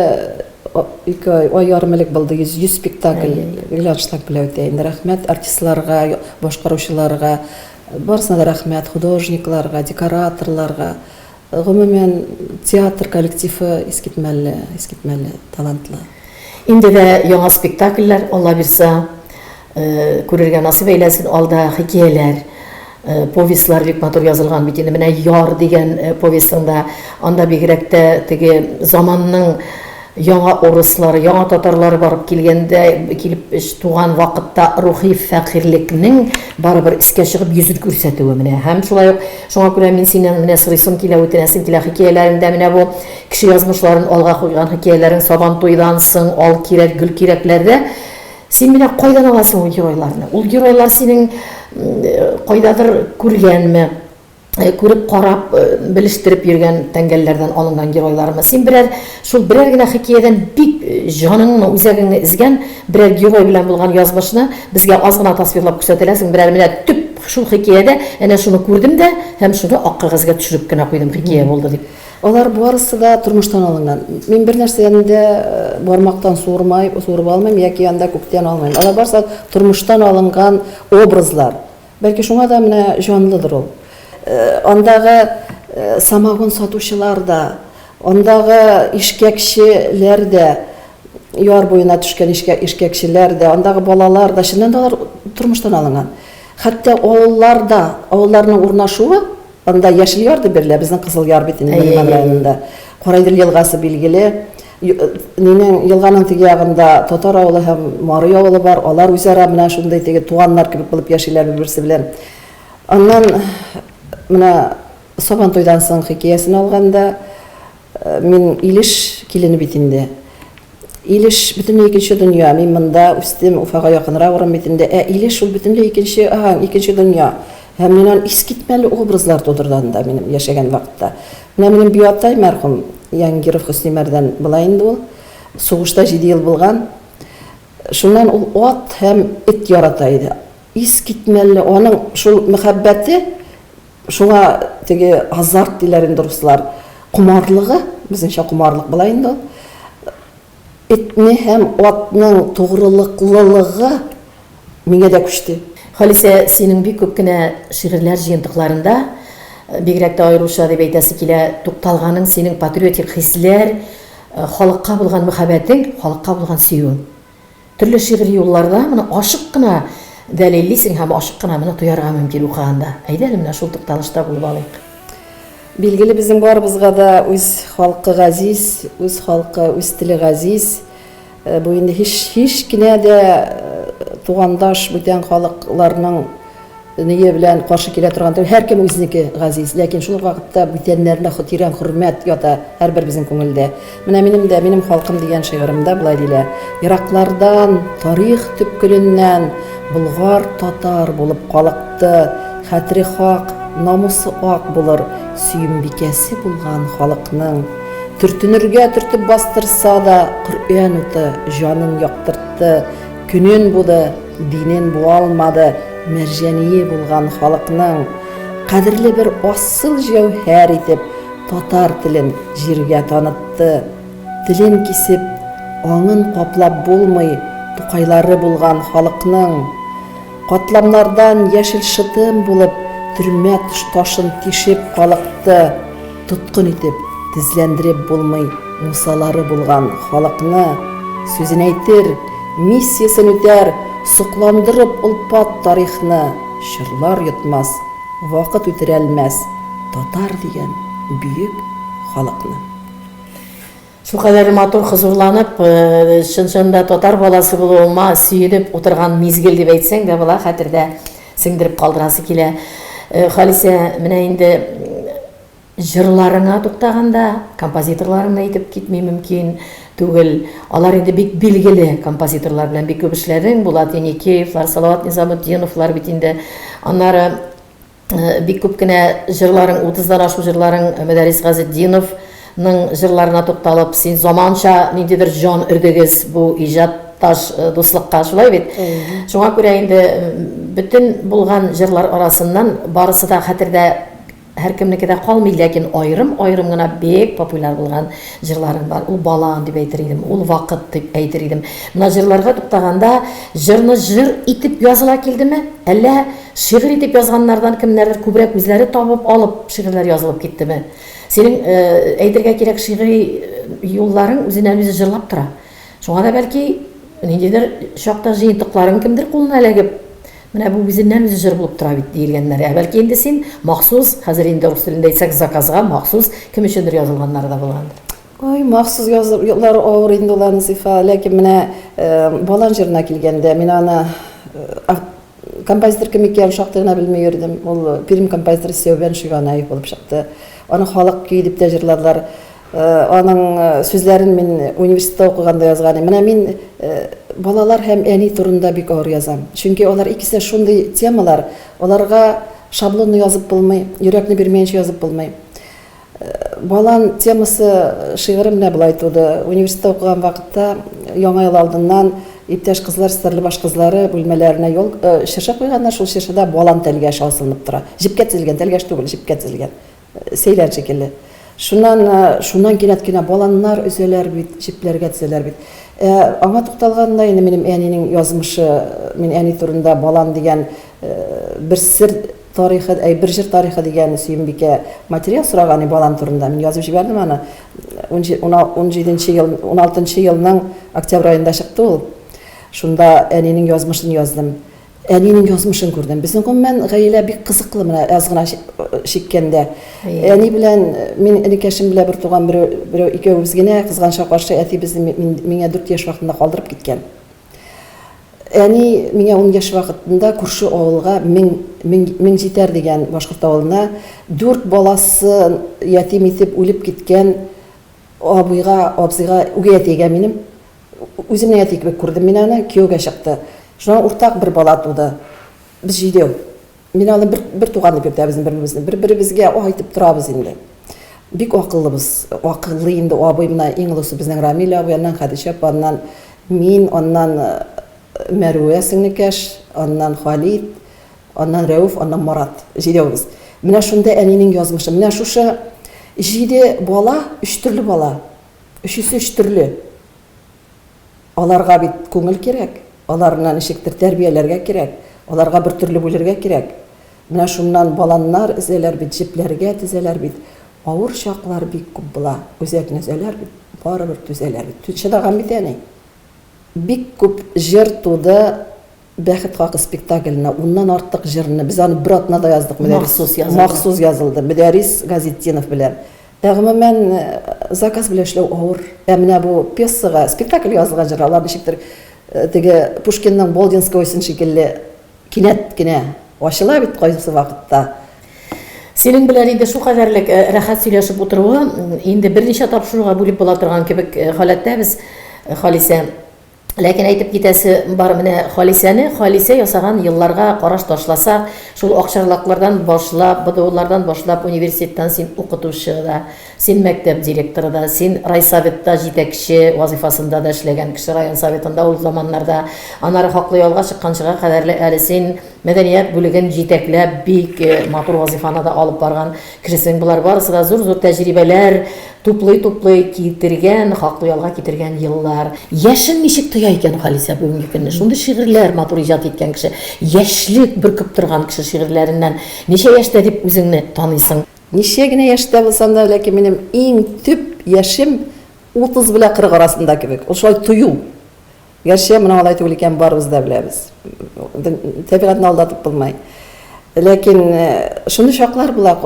ике ай, ай ярым элек булды, 100, 100 спектакль, Глянштаг белән үтә инде. Рәхмәт артистларга, башкаручыларга, Барысына да рәхмәт, художникларга, декораторларга, гомумән, театр коллективы искитмәле, искитмәле талантлы. Инде дә яңа спектакльләр, Алла бирса, күрергә насыйп әйләсен, алда хикияләр, повестьлар бик матур язылган бит инде, менә Яр дигән повестьың да, анда бигрәк тә теге заманның, Яңа урыслар, яңа татарлар барып килгәндә, килеп туган вакытта рухи фәкыйрьлекнең барыбер искә чыгып йөзен күрсәтүе менә. Һәм шулай ук, шуңа күрә мин синнән менә сорыйсым килә, үтенәсем килә, хикәяләреңдә менә бу кеше язмышларын алга куйган хикәяләрең Сабантуйдан соң, Ал кирәк, Гөл кирәкләрдә син менә кайдан аласың ул геройларны? Ул геройлар синең кайдадыр күргәнме? күреп, карап, белештереп йөргән тәңгәлләрдән алынган геройлармы? Син берәр, шул берәр генә хикәядән бик җаныңны, үзәгеңне изгән берәр герой белән булган язмышны безгә аз гына тасвирлап күрсәтәләсең, берәр менә төп шул хикәядә әнә шуны күрдем дә һәм шуны ак кәгазьгә төшереп кенә куйдым, хикәя булды дип. Алар барысы да тормыштан алынган. Мин бер нәрсәне дә бармактан суырмай, суырып алмыйм яки анда күктән алмыйм. Алар барысы тормыштан алынган образлар. Бәлки шуңа да менә җанлыдыр ул. Андагы самогон сатучылар да, андагы ишкәкчеләр дә, яр буена төшкән ишкәкчеләр дә, андагы балалар да, чыннан да алар тормыштан алынган. Хәтта авыллар да, авылларның урнашуы, анда Яшел Яр дип бирелә, безнең Кызыл Яр бит инде, Нариман районында. Кара Идел елгасы билгеле. Нинең, елганың теге ягында татар авылы һәм Марый авылы бар, алар үзара менә шундый теге туганнар кебек булып яшиләр бер-берсе белән. Аннан менә Сабантуйдан соң хикәясен алганда, мин Илеш килене бит инде. Илеш бөтенләй икенче дөнья, мин монда үстем, Уфага якынрак урын бит инде, ә Илеш ул бөтенләй икенче, икенче дөнья. Һәм мин аны искитмәле образлар тудырды анда минем яшәгән вакытта. Менә минем биатай мәрхүм Янгиров Хөснимәрдән болай инде ул, сугышта җиде ел булган. Шуннан ул ат һәм эт ярата иде. Искитмәлле аның шул мәхәббәте, шуңа теге азарт диләр инде руслар, комарлыгы, безнеңчә комарлык була инде ул. Этне һәм атның тугрылыклылыгы миңа да күчте. Халисә, синең бик күп кенә шигырьләр җыентыкларында, бигрәк тә аеруча дип әйтәсе килә, тукталганың синең патриотик хисләр, халыкка булган мөхәббәтең, халыкка булган сөюең. Төрле шигъри юлларда моны ачык кына дәлиллисең һәм ачык кына моны тоярга мөмкин укыганда. Әйдә әле менә шул тукталышта булып алыйк. Билгеле, безнең барыбызга да үз халкы газиз, үз халкы, үз теле газиз. Э, бу инде һич һич кенә дә э, тугандаш бүтән халыкларның Ние белән каршы килә торган түгел, һәркем үзенеке газиз, ләкин шул ук вакытта бүтәннәренә тирән хөрмәт ята һәрберебезнең күңелдә. Менә минем дә Минем халкым дигән шигыремда болай диелә, Ераклардан, тарих төпкеленнән Болгар татар булып калыкты, Хәтере хак, намусы ак булыр Сөембикәсе булган халыкның. Төртенергә төртеп бастырса да, Коръән уты җанын яктыртты. Көнен буды, динен буалмады, мәрҗәние булган халыкның кадерле бер асыл җәүһәр итеп татар телен җиргә танытты. Телен кисеп, аңын каплап булмый, Тукайлары булган халыкның катламнардан яшел шытым булып төрмә ташын тишеп калыкты. Тоткын итеп тезләндереп булмый мусалары булган халыкны, сүзен әйтер, миссиясен үтәр, сокландырып олпат тарихны чорлар йотмас, вакыт үтерәлмәс татар дигән бөек халыкны. Шул кадәрле матур, хозурланып, чын-чын да татар баласы булуыма сөенеп утырган мизгел дип әйтсәң дә була, хәтердә сеңдереп калдырасы килә. Халисә, менә инде җырларыңа туктаганда, композиторларыңны әйтеп китми мөмкин түгел. Алар инде бик билгеле композиторлар белән бик күп эшләдең, Булат Еникеевлар, Салават Низаметдиновлар бит инде. Аннары Бик күп кенә җырларың, утыздан ашу җырларың Мөдәррис Газетдинов ның җырларына тукталып, син заманча ниндидер җан өрдегез бу иҗат таш э, дуслыкка, шулай бит? Шуңа күрә инде бөтен булган җырлар арасыннан барысы да хәтердә һәркемнеке дә калмый, ләкин аерым-аерым гына бик популяр булган җырларың бар. Ул бала дип әйтер идем, ул вакыт дип әйтер идем. Менә җырларга туктаганда, җырны җыр итеп языла килдеме, әллә Шигырь итеп язганнардан кемнәрдер күбрәк үзләре табып алып шигырьләр язылып киттеме? Синең, әйтергә кирәк, шигъри юлларың үзеннән-үзе җырлап тора. Шуңа да бәлки, ниндидер чакта җыентыкларың кемдер кулына эләгеп, менә бу үзеннән-үзе җыр булып тора бит, диелгәннәр. Ә бәлки инде син махсус, хәзер инде рус телендә әйтсәк, заказга махсус кем өчендер язылганнары да булгандыр. Ой, махсус язулар авыр инде ул, Анзифа. Ләкин менә Балан җырына килгәндә, мин аны Композитор кем икәнен шактый гына белми йөрдем. Ул Пермь композиторы Сәүбән Шиганаев булып чыкты. Аны халык көе дип тә җырладылар. Аның сүзләрен мин университетта укыганда язган идем. Менә мин балалар һәм әни турында бик авыр язам. Чөнки алар икесе дә шундый темалар, аларга шаблонно язып булмый, йөрәкне бирмәенчә язып булмый. Балан темасы шигыре менә болай туды. Университетта укыган вакытта Яңа ел алдыннан иптәш кызлар Стәрлебаш кызлары бүлмәләренә ял чыршы куйганнар, шул чыршыда балан тәлгәше асылынып тора. Җепкә тезелгән, тәлгәш түгел, җепкә тезелгән. Сәйлән шикелле. Шуннан, шуннан кинәт кенә баланнар өзәләр бит, җепләргә тезәләр бит. Ә аңа тукталганда инде минем әнинең язмышы, мин әни турында балан дигән бер сер Тарихы, әй, бер җыр тарихы, дигән Сөембикә материал сораган иде балам турында. Мин язып җибәрдем аны. Унҗи, уна, унҗиденче ел, уналтынчы елның октябрь аенда чыкты ул. Шунда әнинең язмышын яздым. Әнинең язмышын күрдем. Безнең, гомумән, гаилә бик кызыклы менә аз гына чиккәндә. Әни белән мин энекәшем белән бер туган берәү, берәү икәвебез генә, кызганычка каршы, әти безне мин, миңа дүрт яшь вакытында калдырып киткән. Әни миңа ун яшь вакытында күрше авылга, Мең, Мең, Меңҗитәр дигән башкорт авылына, дүрт баласын ятим итеп үлеп киткән абыйга, абзыйга, үгәй әтигә, минем үземнең әти кебек күрдем мин аны, кияүгә чыкты. Шуннан уртак бер бала туды. Без җидәү. Мин аны бер, бер туган дип йөртәбез бер-беребезне. Бер-беребезгә айтып торабыз инде. Бик акыллыбыз. Акыллы инде абый, менә иң олысы безнең Рамил абый, аннан Хәдичә апа, аннан мин, аннан Мәрүә сеңлекәш, аннан Халит, аннан Рәүф, аннан Марат. Җидәүбез. Менә шунда әнинең язмышы. Менә шушы җиде бала, өч төрле бала. Өчесе өч төрле. Аларга бит күңел кирәк, аларны ничектер тәрбияләргә кирәк, аларга бер төрле бүлергә кирәк. Менә шуннан баланнар өзәләр бит, җепләргә тезәләр бит. Авыр чаклар бик күп була. Үзәкне өзәләр бит, барыбер түзәләр бит. Чыдаган бит әни. Бик күп җыр туды Бәхет хакы спектакленә уннан артык җырны, без аны бер атнада яздык, Мөдәррис. Махсус язылды. Махсус язылды, Мөдәррис Газетдинов белән. Ә гомумән, заказ белән эшләү авыр. Ә менә бу пьесага, спектакль язылган җыр, алар ничектер теге Пушкинның Болдинскойсын шикелле кинәт кенә ачыла бит кайсы вакытта. Синең белән инде шулкадәрлек рәхәт сөйләшеп утыруы, инде берничә тапшыруга бүлеп була торган кебек халәттәбез, Халисә. Ләкин әйтеп китәсе бар менә Халисәне, Халисә ясаган елларга караш ташласак, шул акчарлаклардан башлап, БДУлардан башлап университеттан син укытучы да, син мәктәп директоры да, син райсоветта җитәкче вазыйфасында да эшләгән кеше, район советында ул заманнарда, аннары хаклы ялга чыкканчыга кадәрле әле син мәдәният бүлеген җитәкләп бик матур вазыйфаны да алып барган. Керсең, болар барысы да зур-зур тәҗрибәләр туплый-туплый китергән, хаклы ялга китергән еллар. Яшен ничек тоя икән Халисә бүгенге көнне? Шундый шигырьләр матур иҗат иткән кеше, яшьлек бөркеп торган кеше шигырьләреннән ничә яшьтә дип үзеңне таныйсың? Ничә генә яшьтә булсам да, ләкин минем иң төп яшем 30 белән 40 арасында кебек. Ул шулай тою. Гәрчә моның алай түгел икәнен барыбыз да беләбез. Тәбигатьне алдатып булмый. Ләкин шундый чаклар була,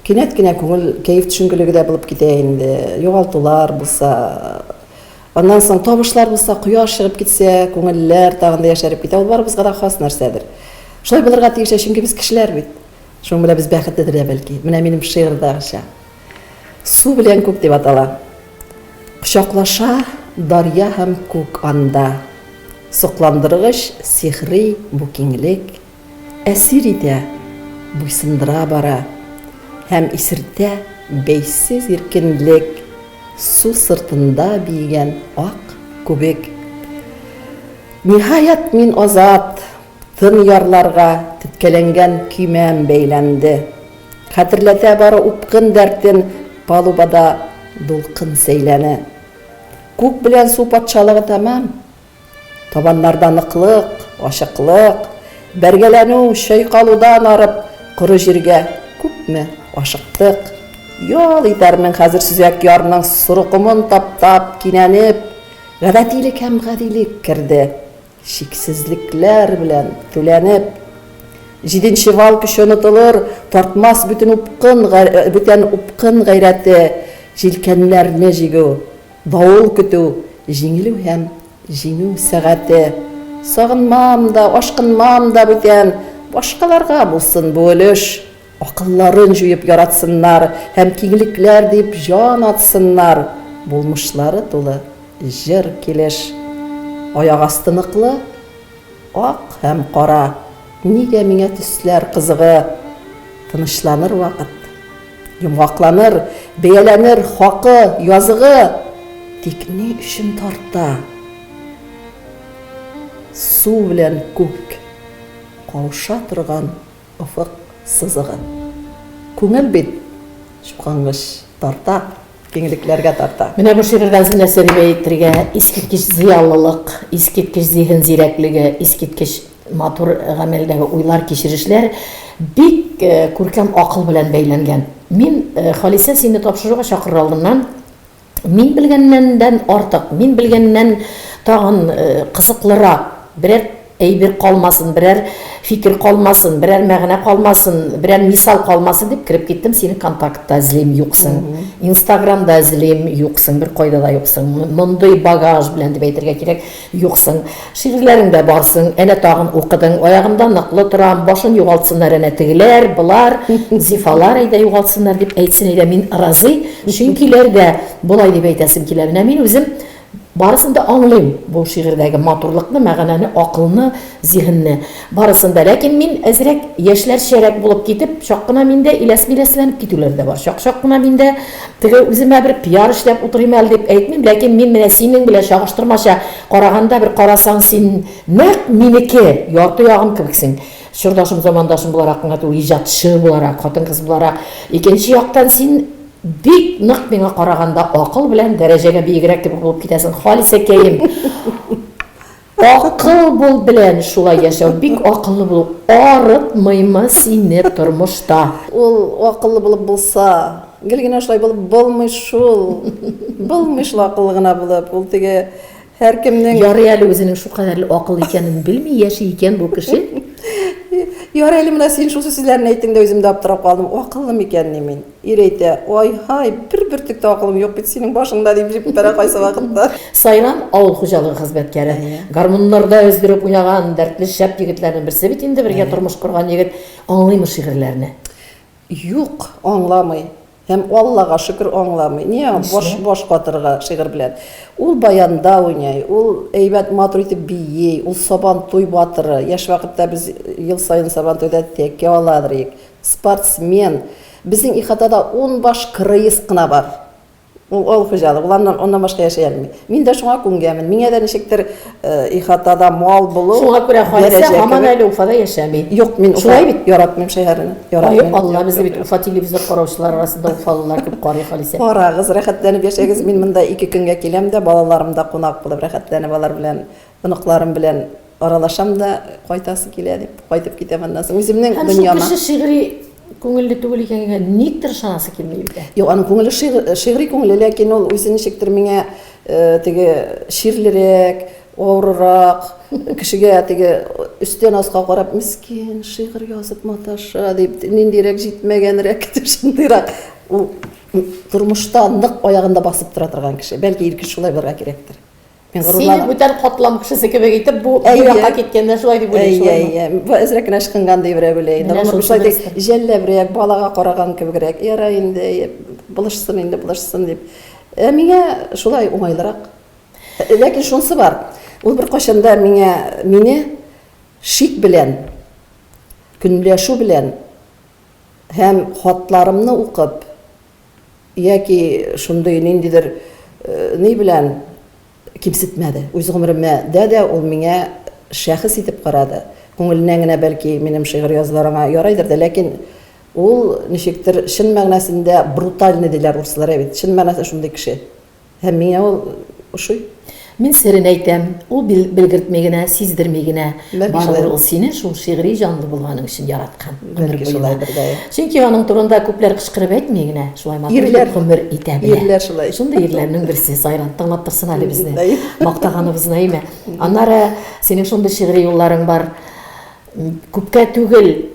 кинәт кенә күңел кәеф төшенкелеге дә булып китә инде. Югалтулар булса, аннан соң табышлар булса, кояш чыгып китсә, күңелләр тагын да яшәреп китә. Ул барыбызга да хас нәрсәдер. Шулай булырга тиеш, чөнки без кешеләр бит. Шуның белән без бәхетледер дә бәлки. Менә минем шигырьдәгечә. Су белән күк дип атала. Кочаклаша дарья һәм күк анда. Сокландыргыч, сихри бу киңлек. Әсир итә, буйсындыра бара. Һәм исертә бәйсез иркенлек. Су сыртында биегән ак күбек. Ниһаять, мин азат! Тын ярларга теткәләнгән көймәм бәйләнде. Хәтерләтә бары упкын дәртен Палубада дулкын сәйләне. Күк белән су патшалыгы тәмам. Табаннарда ныклык, ачыклык, Бәргәләнү, чайкалудан арып, Коры җиргә күпме ашыктык. Ял итәрмен хәзер сөзәк ярның Соры комын таптап, кинәнеп. Гадәтилек һәм гадилек керде. Чиксезлекләр белән түләнеп. Җиденче вал көче онытылыр, Тартмас бүтен упкын, бүтән упкын гайрәте, Җилкәннәрне җигү, давыл көтү, Җиңелү һәм җиңү сәгате. Сагынмам да, ашкынмам да бүтән, Башкаларга булсын бу өлеш. Акылларын җуеп яратсыннар һәм киңлекләр дип җан атсыннар, булмышлары тулы җыр килеш. Аяк асты ныклы, ак һәм кара, нигә миңа төсләр кызыгы? Тынычланыр вакыт, йомгакланыр, бәяләнер хакы, языгы, тик ни өчен тарта су белән күк кауша торган Офык сызыгын. Күңел бит, чукынмыш, тарта, киңлекләргә тарта. Менә бу шигырьдә Зинә Сәлимә әйтергә, искиткеч зыялылык, искиткеч зиһен зирәклеге, искиткеч матур гамәлдәге уйлар, кичерешләр бик күркәм акыл белән бәйләнгән. Мин, Халисә, сине тапшыруга чакырыр алдыннан, Мин белгәннәндән артык, мин белгәннән тагын кызыклырак берәр әйбер калмасын, берәр фикер калмасын, берәр мәгънә калмасын, берәр мисал калмасын дип кереп киттем, сине контактта эзлим, юксың. Инстаграмда эзлим, юксың, беркайда да юксың. Мондый багаж белән дип әйтергә кирәк. Юксың. Шигырьләреңдә барсың. Әнә тагын укыдың. Аягымда ныклы торам. Башын югалтсыннар әнә тегеләр, болар, зифалар әйдә югалтсыннар дип әйтсен әйдә, мин разый, чөнкиләр дә болай дип әйтәсем килә. Менә мин үзем барысын да аңлыйм, бу шигырьдәге матурлыкны, мәганәне, акылны, зиһенне. Барысын да, ләкин мин әзрәк, яшьләрчәрәк булып китеп, чак кына миндә иләс-миләсләнеп китүләре дә бар. Чак-чак кына миндә теге үземә бер пиар эшләп утырыйм әле дип әйтмим, ләкин мин менә синең белән чагыштырмача караганда, бер карасаң, син нәкъ минеке, ярты ягым кебексең. Чордашым, замандашым буларак кына түгел, иҗатчы буларак, хатын-кыз буларак. Икенче яктан, син бик нык миңа караганда акыл белән дәрәҗәгә биегрәк кебек булып китәсең, Халисәкәем. Акыл бул белән шулай яшәү бик акыллы булу арытмыймы сине тормышта. Ул акыллы булып булса. Гел генә шулай булып булмый шул. Булмый шул акыллы гына булып. Ул теге һәркемнең. Ярый әле үзенең шулкадәрле акыллы икәнен белми яши икән бу кеше. Ярый әле менә син шушы сүзләрне әйттең дә үзем дә аптырап калдым. Акыллымы икәнни мин? Ир әйтә, Ай-һай, бер бөртек тә акылым юк бит синең башыңда, дип җиппәрә кайсы вакытта. Сайрам авыл хуҗалыгы хезмәткәре. Гармуннарда өздереп уйнаган дәртле шәп егетләрнең берсе бит инде, бергә тормыш корган егет. Аңлыймы шигырьләрне? Юк, аңламый. Һәм, Аллага шөкер, аңламый. Ниңа баш, баш катырырга шигырь белән? Ул баянда уйный, ул әйбәт, матур итеп бии, ул Сабантуй батыры. Яшь вакытта без ел саен Сабантуйда тәкә ала идек. Спортсмен, Безнең ихатада ун баш крыс кына бар. Ул авыл хуҗалык, ул аннан, аннан башка яши алмый. Мин дә шуңа күнгәнмен. Миңа да ничектер ихатада мал булу, Шуңа күрә Халисә һаман әле Уфада яшәми. Юк, мин Уфа, Шулай бит? яратмыйм шәһәрне. Яратмыйм. Ай, Алла, безне бит Уфа телевизор караучылар арасында уфалылар күп карый, Халисә. Карагыз, рәхәтләнеп яшәгез. Мин монда ике көнгә киләм дә, балаларым да кунак булып рәхәтләнеп алар белән Оныкларым белән аралашам да, кайтасы килә дип, кайтып китәм аннан соң. Үземнең Һәм шул кеше шигъри күңелле түгел икәнгә никтер ышанасы килми бит. Юк, аның күңеле шигъри күңелле, ләкин ул үзе ничектер миңа э, теге ширлерәк, авырырак, кешегә теге өстән аска карап, мискин, шигырь язып маташа дип, ниндирәк җитмәгәнрәк дип шундыйрак. Ул тормышта нык аягында басып тора торган кеше. Бәлки ир кеше шулай булырга кирәктер. Мин Сине горурланам. бүтән катлам кешесе кебек итеп бу бу Әйе. якка киткәндә шулай дип Әйе, уйлыйсың. әйе. Бу әзрәк кенә ычкынган ди берәү генә инде. Менә Гомер шусы бушлай дип, нәрсә. җәлләбрәк, балага караган кебегрәк. Ярай инде, әйе, булышсын инде, булышсын дип. Ә миңа шулай уңайлырак. Ә, Ләкин шунысы бар. Ул беркайчан да миңа мине шик белән, көнләшү белән һәм хатларымны укып, Яки шундый ниндидер ни белән кимсетмәде. Үз гомеремә дә дә ул миңа шәхес итеп карады. Күңеленнән генә бәлки минем шигырь язулар аңа ярайдыр да, ләкин ул ничектер чын мәгънәсендә брутальный диләр урыслар, әйбәт, чын мәгънәсендә шундый кеше. Һәм миңа ул ошый. Мин серен әйтәм, ул бел, белгертми генә, сиздерми генә. Бәлки Барыбер шулай. ул сине шул шигъри җанлы булганың өчен яраткан. гомер Бәлки буена. шулайдыр да. я. Чөнки аның турында күпләр кычкырып әйтми генә, шулай матур Ирләр. итеп гомер итә белә. Ирләр шулай. Шундый ирләрнең берсе Сайран, тыңлап торсын әле безне. Наим. Мактаганыбыз Наимә. Аннары синең шундый шигъри юлларың бар. М, Күпкә түгел,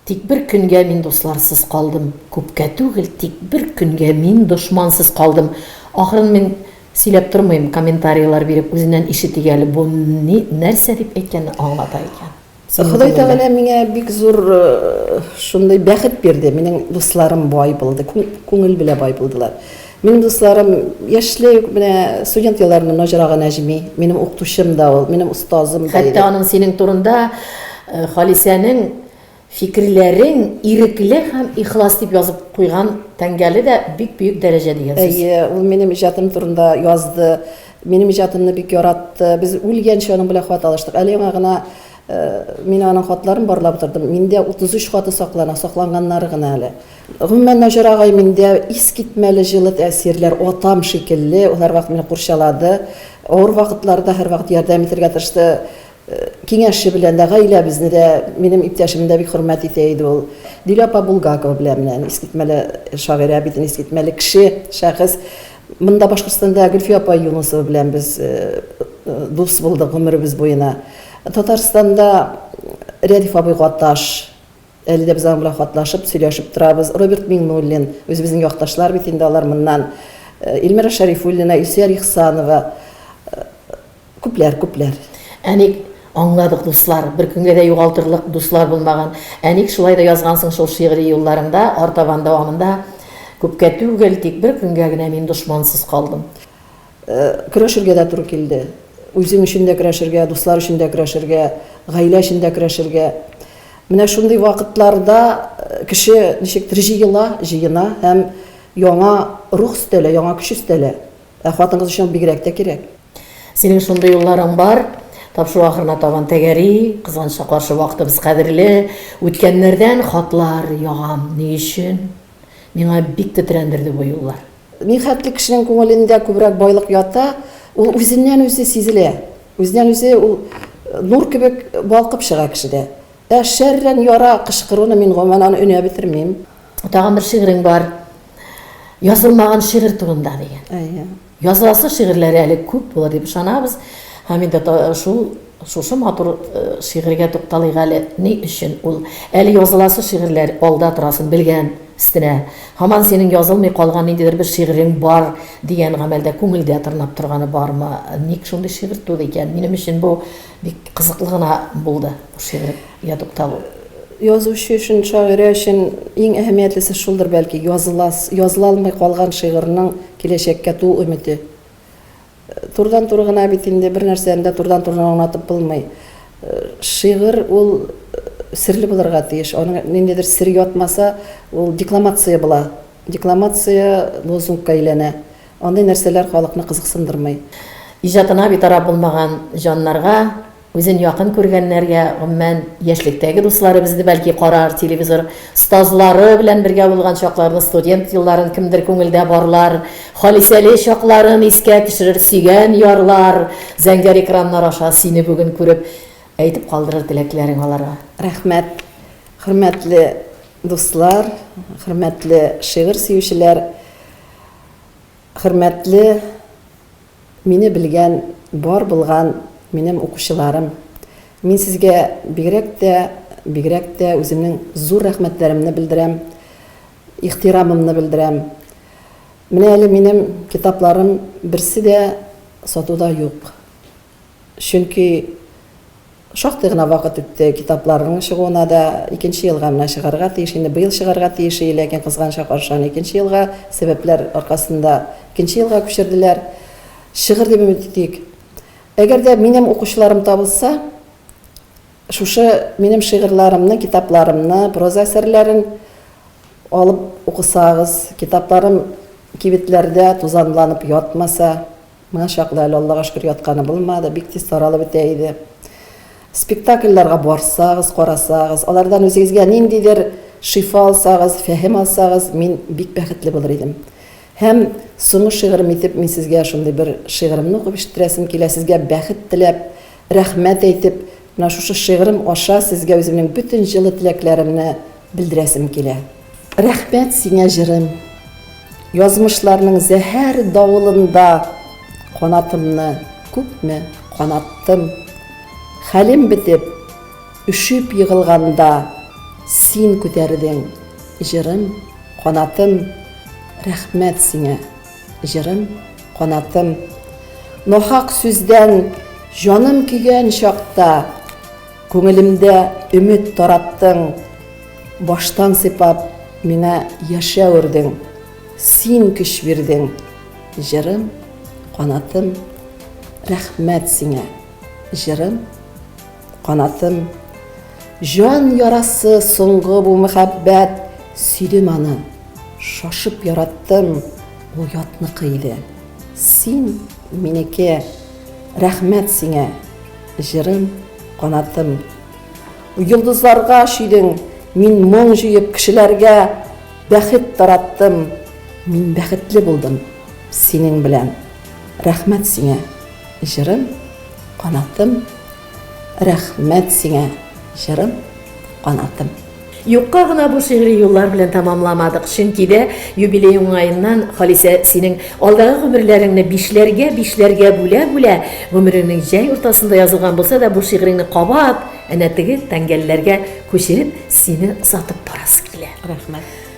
Тик бер көнгә мин дусларсыз калдым, Күпкә түгел, тик бер көнгә мин дошмансыз калдым. Ахырын мин сөйләп тормыйм, комментарийлар биреп үзеннән ишетик әле, бу ни, нәрсә дип әйткәнне аңлата икән. Синең Ходай күңелдә. Тәгалә миңа бик зур шундый бәхет бирде, минем дусларым бай булды, күңел белә бай булдылар. Минем дусларым яшьлек, менә студент елларыннан Наҗрага Нәҗми, минем укытучым да ул, минем остазым да. Хәтта аның синең турында э, Халисәнең фикерләрең ирекле һәм ихлас дип язып куйган тәңгәле дә бик бөек дәрәҗә дигән сүз. Әйе, ул минем иҗатым турында язды. Минем иҗатымны бик яратты. Без үлгәнчә аның белән хат алыштык. Әле яңа гына э, мин аның хатларын барлап утырдым. Миндә 33 хаты саклана, сакланганнары гына әле. Гомумән, Наҗар агай миндә искитмәле җылы тәэсирләр, атам шикелле, ул һәрвакыт мине курчалады, авыр вакытларда һәрвакыт ярдәм итәргә тырышты, киңәше белән дә, гаиләбезне дә, минем иптәшемне дә бик хөрмәт итә иде ул. Диля апа Булгакова белән менә искитмәле шагыйрә бит, искитмәле кеше, шәхес. Монда Башкортстанда Гөлфия апа Юнысова белән без дус булдык гомеребез буена. Татарстанда Рәдиф абый Гаташ. Әле дә без аның белән хатлашып, сөйләшеп торабыз. Роберт Миңнуллин, үзебезнең якташлар бит инде алар моннан. Илмира Шәрифуллина, Илсөяр Ихсанова, күпләр, күпләр. Ә ник, аңладык, дуслар, бер көнгә дә югалтырлык дуслар булмаган. Ә ник шулай да язгансың шул шигъри юлларыңда, артабан дәвамында, Күпкә түгел, тик бер көнгә генә мин дошмансыз калдым. Көрәшергә дә туры килде. Үзем өчен дә көрәшергә, дуслар өчен дә көрәшергә, гаилә өчен дә көрәшергә. Менә шундый вакытларда кеше ничектер җыела, җыена һәм яңа рух өстәлә, яңа көч өстәлә. Ә хатын-кыз өчен ул бигрәк тә кирәк. Синең шундый юлларың бар. Тапшыру ахырына табан тәгәри, кызганыч та каршы, вакытыбыз кадерле. Үткәннәрдән хатлар ягам. Ни өчен? Миңа бик тетрәндерде бу юллар. Михәтле кешенең күңелендә күбрәк байлык ята, ул үзеннән-үзе сизелә, үзеннән-үзе ул нур кебек балкып чыга кешедә. Ә шәрран яра кычкыруны мин гомумән аны өнә бетермим. Тагын бер шигырең бар, Язылмаган шигырь турында дигән. Әйе. Языласы шигырьләре әле күп булыр дип ышанабыз һәм инде шул Шушы матур шигырьгә тукталыйк әле, ни өчен ул әле языласы шигырьләр алда торасын белгән өстенә, һаман синең язылмый калган ниндидер бер шигырең бар дигән гамәлдә күңелдә тырнап торганы бармы? Ник шундый шигырь туды икән? Минем өчен бу бик кызыклы гына булды, бу шигырьгә тукталу. Язучы өчен, шагыйрә өчен иң әһәмиятлесе шулдыр, бәлки, языла языла алмый калган шигырьнең киләчәккә туу өмете. Турыдан-туры гына бит инде бернәрсәне дә турыдан-туры гына аңлатып булмый. Шигырь ул серле булырга тиеш. Аның ниндидер сер ятмаса, ул декламация була. Декламация лозунгка әйләнә. Андый нәрсәләр халыкны кызыксындырмый. Иҗатына битараф булмаган җаннарга Үзен якын күргәннәргә, гомумән, яшьлектәге дуслары безне бәлки карар, телевизор, остазлары белән бергә булган чакларны, студент елларын кемдер күңелдә барлар, Халисәле чакларын искә төшерер, сөйгән ярлар, зәңгәр экраннар аша сине бүген күреп, әйтеп калдырыр теләкләрен аларга. Рәхмәт, хөрмәтле дуслар, хөрмәтле шигырь сөючеләр, хөрмәтле. Мине белгән, бар булган минем укучыларым, мин сезгә бигрәк тә, бигрәк тә үземнең зур рәхмәтләремне белдерәм, ихтирамымны белдерәм. Менә әле минем китапларым берсе дә сатуда юк. Чөнки Шактый гына вакыт үтте, китапларның чыгуына да икенче елга менә чыгарга тиеш инде, быел чыгарга тиеш ие, ләкин кызганычка каршы аны икенче елга, сәбәпләр аркасында икенче елга күчерделәр. Чыгыр дип өмет итик. Әгәр дә минем укучыларым табылса, шушы минем шигырьларымны, китапларымны, проза әсәрләрен алып укысагыз, китапларым кибетләрдә тузанланып ятмаса, Моңа чаклы әле, Аллага шөкер, ятканы булмады, бик тиз таралып бетә иде. Спектакльләргә барсагыз, карасагыз, алардан үзегезгә ниндидер шифа алсагыз, фәһем алсагыз, мин бик бәхетле булыр идем. Һәм соңгы шигырем итеп мин сезгә шундый бер шигыремне укып ишеттерәсем килә, сезгә бәхет теләп, рәхмәт әйтеп, Менә шушы шигырем аша сезгә үземнең бөтен җылы теләкләремне белдерәсем килә. Рәхмәт сиңа, җырым! Язмышларның зәһәр давылында канатымны күпме канаттым. Хәлем бетеп, өшеп егылганда син күтәрдең, җырым, канатым. Рәхмәт сиңа! Җырым, канатым. Нахак сүздән җаным көйгән чакта, Күңелемдә өмет тараттың, Баштан сыйпап, миңа яшәү өрдең, Син көч бирдең. Җырым, канатым. Рәхмәт сиңа. Җырым, канатым. Җан ярасы соңгы бу мәхәббәт Сөйдем аны, шашып яраттым, Ул ятныкы иде. Син, минеке, Рәхмәт сиңа, җырым, канатым. Йолдызларга чөйдең, мин моң җыеп Кешеләргә бәхет тараттым. Мин бәхетле булдым синең белән. Рәхмәт сиңа, җырым, канатым. Рәхмәт сиңа, җырым, канатым. Юкка гына бу шигъри юллар белән тәмамламадык, чөнки дә юбилей уңаеннан, Халисә, синең алдагы гомерләреңне бишләргә-бишләргә бүлә-бүлә, гомереңнең җәй уртасында язылган булса да, бу шигъреңне кабат әнә теге тәңгәлләргә күчереп, сине озатып барасы килә. Рәхмәт.